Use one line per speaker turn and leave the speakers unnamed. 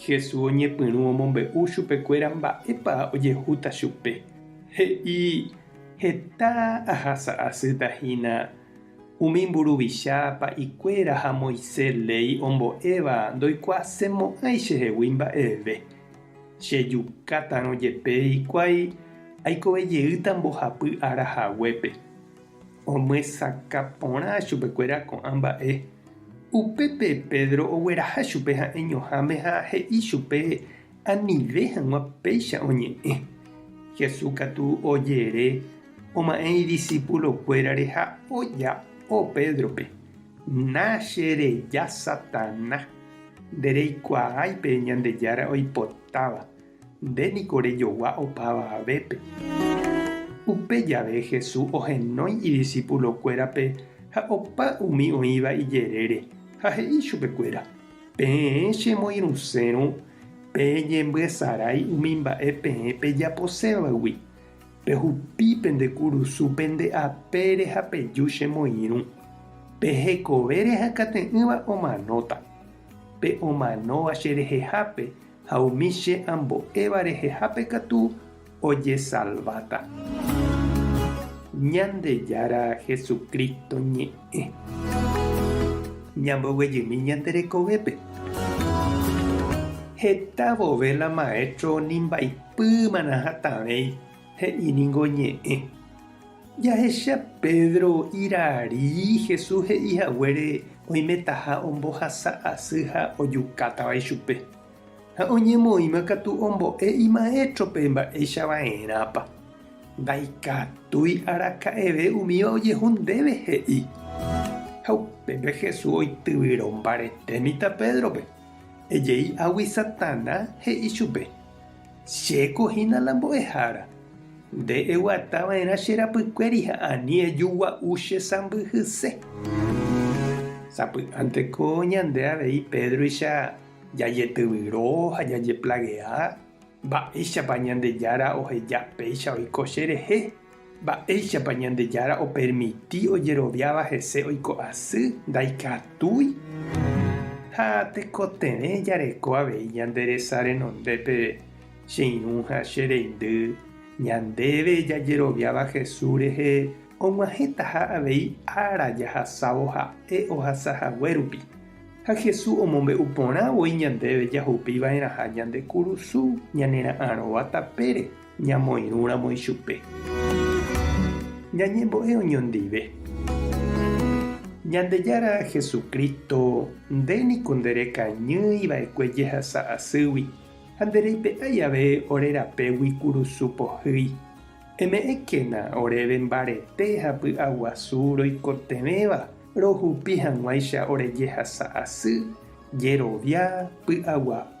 Jesús oñepyrũ omombe'u chupekuéra mba'épa ojehúta chupe. He'i, Heta ahasa asýta hína umi mburuvicha pa'ikuéra ha Moisés léi ombo'éva ndoikuaasemo'ãi chehegui mba'eve. Chejukáta'arõ jepe hikuái aikove jeýta mbohapy ára haguépe. Omyesakã porã chupekuéra ko'ã mba'e. Upépe Pedro ogueraha chupe ha'eñoháme ha he'i chupe anive hag̃ua péicha oñe'ẽ. Jesús katu ojere oma'ẽ idisipulokuérare ha oja'o Pédrope, Na che reja, Satanás! Nde reikuaái pe Ñandejára oipotáva, Nde niko rejogua opáva avépe. Upe jave Jesús ohenói idisipulokuérape ha opa umi oĩva ijerére ha he'i chupekuéra, Peẽ chemoirũsérõ peñembyesarái umi mba'e peẽ pejaposévagui. Pehupi pende kurusu pende apére ha peju chemoirũ. Pe hekove rehakate'ỹva omanóta. Pe omanóva cherehehápe Ha umi che ambo'éva rehehápe katu ojesalváta. Ñandejára Jesucristo ñe'ẽ. Ñamboguejymi ñande rekovépe. Heta vove la maestro nimbaipýmana hatãvéi he'i ningo ñe'ẽ. Jahecha Pedro irari Jesús he'i haguére oimetaha ombohasa asy ha ojukátava ichupe. Ha oñemoĩma katu ombo'e imaétrope mba'éicha va'erãpa. Ndaikatúi araka'eve umíva ojehu ndéve he'i. Ha upépe Jesús oityvyro mbarete mitã Pédrope. Ejei águi Satanás he'i chupe. Che ko hína la mbo'ehára, nde eguata va'erã che rapykuéri ha ani ejugua'u che sãmbyhyse. Sapy'ánte ko ñande avei Pédruicha jajetyvyro ha jajeplagea, mba'éichapa Ñandejára oheja péicha oiko cherehe? Mba'éichapa Ñandejára opermiti ojeroviáva hese oiko asy ndaikatúi? Ha tekotevẽ jareko avei ñande resa renonde peve, che irũ ha che reindy, ñandéve jajeroviáva Jesús rehe og̃uahẽtaha avei ára jahasávo ha'e ohasa hague rupi. Ha Jesús omombe'u porã voi ñandéve jahupi va'erãha ñande kurusu ñanera'arõva tapére. ñamoirũramo ichupe. Ñañembo'e oñondive. Ñandejára Jesucristo, nde niko nde rekañýi va'ekue jehasa asýgui, ha nde reipe'ái ave ore rapégui kurusu pohýi. Eme'ẽkena oréve mbarete ha py'aguasu roikotevẽva rohupi hag̃uáicha ore jehasa asy, jerovia, py'aguapy,